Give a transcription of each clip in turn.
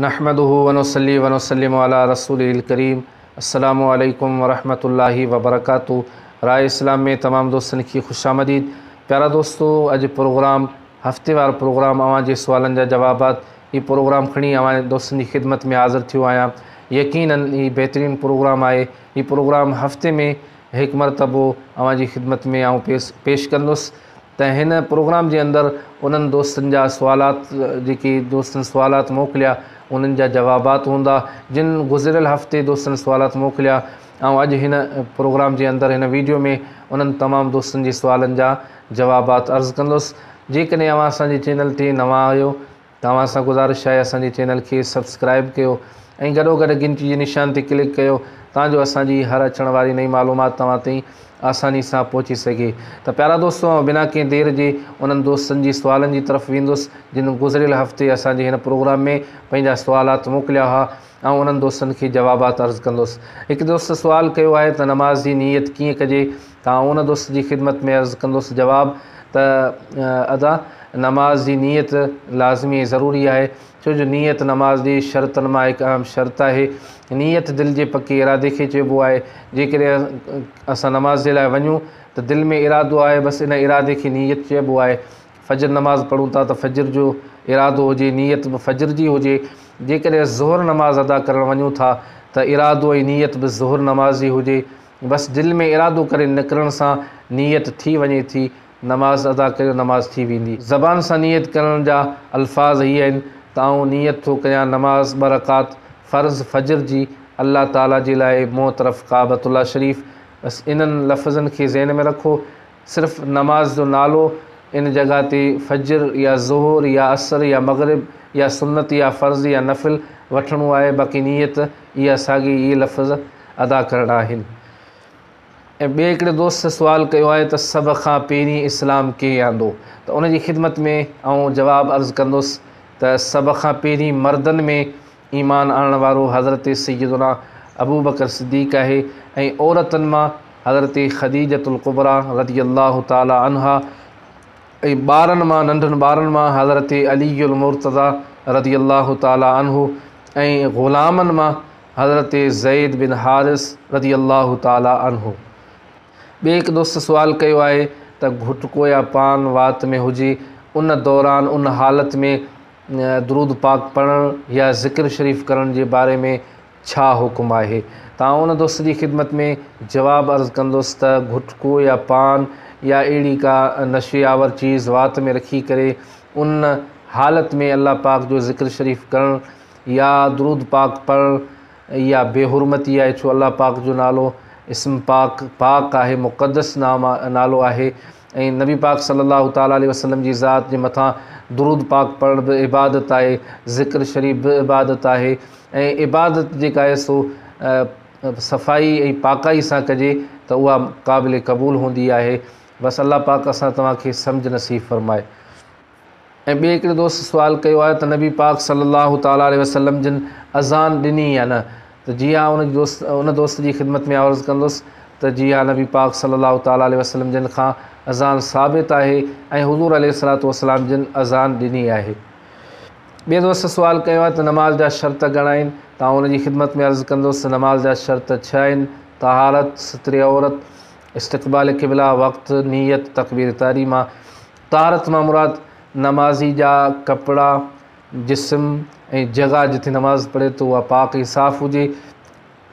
نحمده ونصلي ونسلم علي رسوله الڪريم السلام عليڪم ورحمة الله وبرڪاته راء اسلام ۾ تمام دوستن کي خوش آمديد پيارا دوستو اڄ پروگرام هفتي وار پروگرام اوهان جي سوالن جا جوابات هي پروگرام کڻي اوهان دوستن جي خدمت ۾ حاضر ٿيو آهيان يقينا هي بهترين پروگرام آهي هي پروگرام هفتي ۾ هڪ مرتبو اوهان جي خدمت ۾ آئون پيش ڪندس ته هن پروگرام جي اندر انهن دوستن جا سوالات جيڪي دوستن سوالات موڪليا انهن جا جوابات هوندا جن گذريل هفتي دوستن سوالات موڪليا آئون اڄ هن پروگرام جي اندر هن ويڊيو ۾ انهن تمام دوستن جي سوالن جا جوابات عرض ڪندس جيڪڏهن اوهان اسان جي چينل تي نوان آهيو توهان سان گذارش آهي اسان جي چينل کي سبسڪرائب ڪيو ۽ گڏو گڏ گهنٽي جي نشان تي ڪلڪ ڪيو تان جو اسان جي هر اچڻ واري نئين معلومات توهان تائين آساني سان پهچي سگهي ته پيارا دوستو آئون بنا ڪنهن دير جي انهن دوستن جي سوالن جي طرف ويندس جن گذريل هفتي اسان جي هن پروگرام ۾ پنهنجا سوالات موڪليا هئا آئون انهن دوستن کي جوابات عرض ڪندس هڪ دوست سوال ڪيو آهي ته نماز جي نيت ڪيئن ڪجي تان ان دوست جي خدمت ۾ عرض ڪندس جواب ته ادا نماز جي نيت لازمي ۽ ضروري آهي ڇو جو نيت نماز جي شرطن مان هڪ اهم شرط آهي نيت دل جي پڪي ارادي کي چئبو آهي جيڪڏهن اسان نماز جي لاء وڃون ته دل ۾ ارادو آهي بس ان ارادي کي نيت چئبو آهي فجر نماز پڙهون ٿا ته فجر جو ارادو هجي نيت به فجر جي هجي جيڪڏهن ظهر نماز ادا ڪرڻ وڃون ٿا ته ارادو ۽ نيت به ظهر نماز جي هجي بس دل ۾ ارادو ڪري نڪرڻ سان نيت ٿي وڃي ٿي، نماز ادا ڪريو نماز ٿي ويندي. زبان سان نيت ڪرڻ جا الفاظ هي آهن ته آئون نيت ٿو ڪريان نماز ٻه رڪعت فرض فجر جي الله تعالي جي لاء مون طرف ڪعبة الله شريف بس انهن لفظن کي ذهن ۾ رکو صرف نماز جو نالو ان جڳهه تي فجر يا ظهور يا عصر يا مغرب يا سنت يا فرض يا نفل وٺڻو آهي باقي نيت اها ساڳي ئي لفظ ادا ڪرڻا آهن ۽ ٻئي هڪڙي دوست سوال ڪيو آهي ته سڀ کان پهرين اسلام ڪنهن آندو ته ان جي خدمت ۾ آئون جواب عرض ڪندس ته سڀ کان پهرين مردن ۾ ايمان آڻڻ وارو حضرت سيدنا ابوبڪر صديق آهي ۽ عورتن مان حضرت خديجة الڪبريٰ رضي الله تعالٰي عنها ۽ ٻارن مان ننڍن ٻارن مان حضرت علي المرتضيٰ رضي الله تعالٰي عنه ۽ غلامن مان حضرت زيد بن حارث رضي الله تعالٰي عنه ٻي هڪ دوست سوال ڪيو آهي ته گهٽڪو يا پان وات ۾ هجي ان دوران ان حالت ۾ درود پاڪ پڙهڻ يا ذڪر شريف ڪرڻ جي باري ۾ ڇا حڪم آهي؟ تان ان دوست جي خدمت ۾ جواب عرض ڪندس ته گهٽڪو يا پان يا اهڙي ڪا نشي آور چيز وات ۾ رکي ڪري ان حالت ۾ الله پاڪ جو ذڪر شريف ڪرڻ يا درود پاڪ پڙهڻ اها بي حرمتي آهي ڇو الله پاڪ جو نالو اسم پاڪ، پاڪ، آهي مقدس نالو آهي ۽ نبي پاڪ صلّي اللّٰه تعالٰي عليه وسلّم جي ذات جي مٿان درود پاڪ پڙهڻ به عبادت آهي، ذڪر شريف به عبادت آهي ۽ عبادت جيڪا آهي سو صفائي ۽ پاڪائي سان ڪجي ته اها قابل قبول هوندي آهي، بس الله پاڪ اسان توهان کي سمجھ نصيب فرمائي. ۽ ٻئي هڪڙي دوست سوال ڪيو آهي ته نبي پاڪ صلّي اللّٰه تعالٰي عليه وسلّم جن اذان ڏني يا نه؟ ته جي ها ان دوست ان دوست جي خدمت ۾ عرض ڪندس ته جي ها نبي پاڪ صلّي اللّٰه تعالٰي عليه وسلّم جن کان اذان ثابت آهي ۽ حضور عليه الصلّٰة والسلّام جن اذان ڏني آهي. ٻئي دوست سوال ڪيو آهي ته نماز جا شرط گهڻا آهن؟ ته آئون ان جي خدمت ۾ عرض ڪندس ته نماز جا شرط ڇهه آهن، طهارت، ستر عورت، استقبال قبله، وقت، نيت، تڪبير تحريمه، طهارت مان مراد نمازي جا ڪپڙا، جسم ۽ جڳهه جتي نماز پڙهي ٿو اها پاڪ ۽ صاف هجي.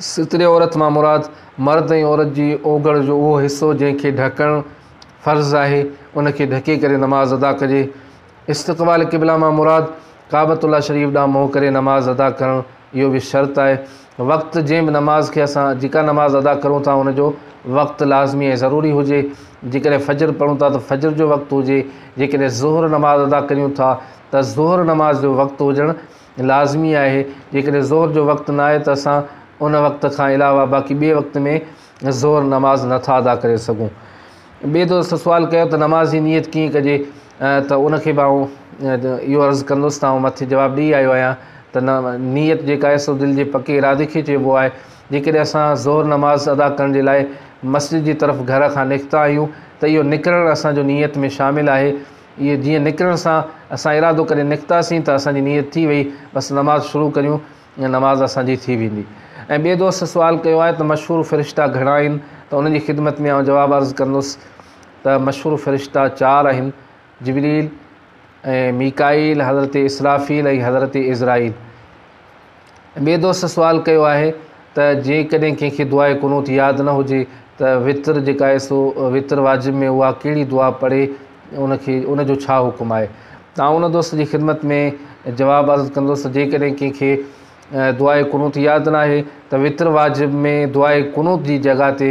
ستر عورت مان مراد مرد ۽ عورت جي اوگهڙ جو اهو حصو جنهن کي ڍڪڻ فرض آهي ان کي ڍڪي ڪري نماز ادا ڪجي. استقبال قبله مان مراد ڪعبة الله شريف ڏانهن منهن ڪري نماز ادا ڪرڻ اهو به شرط آهي وقت جنهن به نماز کي اسان جيڪا نماز ادا ڪرون ٿا ان جو وقت لازمي ۽ ضروري هجي جيڪڏهن فجر پڙهون ٿا ته فجر جو وقت هجي جيڪڏهن ظهر نماز ادا ڪريون ٿا ته ظهر نماز جو وقت هجڻ لازمي آهي جيڪڏهن ظهر جو وقت نه آهي ته اسان ان وقت کان علاوه باقي ٻئي وقت ۾ ظهر نماز نٿا ادا ڪري سگهون ٻئي دوست سوال ڪيو ته نماز جي نيت ڪيئن ڪجي ته ان کي به آئون اهو عرض ڪندس ته آئون مٿي جواب ڏئي آيو آهيان ته نه نيت جيڪا آهي سو دل جي پڪي ارادي کي چئبو آهي جيڪڏهن اسان ظهر نماز ادا ڪرڻ جي لاء مسجد جي طرف گهر کان نڪتا آهيون ته اهو نڪرڻ اسان جو نيت ۾ شامل آهي اهي جيئن نڪرڻ سان اسان ارادو ڪري نڪتاسين ته اسان جي نيت ٿي وئي بس نماز شروع ڪريون نماز اسان جي ٿي ويندي ۽ ٻئي دوست سوال ڪيو آهي ته مشهور فرشتا گهڻا آهن ته ان جي خدمت ۾ آئون جواب عرض ڪندس ته مشھور فرشتا چار آھن، جبريل ۽ ميڪائيل، حضرت اسرافيل ۽ حضرت عزرائيل. ٻئي دوست سوال ڪيو آھي ته جيڪڏھن ڪنھن کي دعاء قنوت ياد نھ ھجي ته وتر جيڪا آھي سو وتر واجب ۾ اھا ڪھڙي دعا پڙھي ان کي ان جو ڇا حڪم آھي؟ آئون ان دوست جي خدمت ۾ جواب عرض ڪندس ته جيڪڏھن ڪنھن کي دعاء قنوت ياد ناھي ته وتر واجب ۾ دعاء قنوت جي جڳھه تي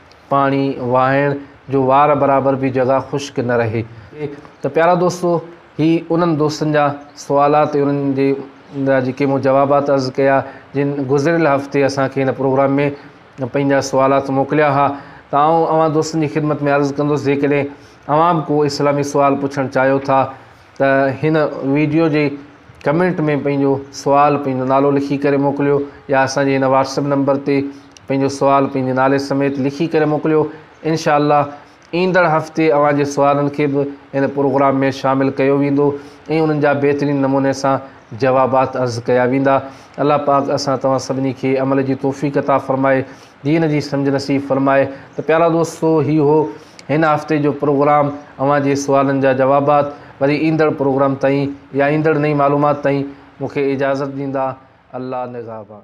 پاڻي واهڻ جو وار برابر به جڳهه خشڪ نه رهي ته پيارا دوستو هي انهن دوستن جا سوالات ۽ انهن جي جا جيڪي مون جوابات عرض ڪيا جن گذريل هفتي اسان کي هن پروگرام ۾ پنهنجا سوالات موڪليا ها ته آئون اوهان دوستن جي خدمت ۾ عرض ڪندس جيڪڏهن اوهان به ڪو اسلامي سوال پڇڻ چاهيو ٿا ته هن ويڊيو جي ڪمينٽ ۾ پنهنجو سوال پنهنجو نالو لکي ڪري موڪليو يا اسان جي هن واٽسپ نمبر تي پنهنجو سوال پنهنجي نالي سميت لکي ڪري موڪليو انشاء الله ايندڙ هفتي اوهان جي سوالن کي به هن پروگرام ۾ شامل ڪيو ويندو ۽ انهن جا بهترين نموني سان جوابات عرض ڪيا ويندا الله پاڪ اسان توهان سڀني کي عمل جي توفيق عطا فرمائي دين جي سمجھ نصيب فرمائي ته پيارا دوستو هي هو هن هفتي جو پروگرام اوهان جي سوالن جا جوابات وري ايندڙ پروگرام تائين يا ايندڙ نئين معلومات تائين مونکي اجازت ڏيندا الله نگهبان.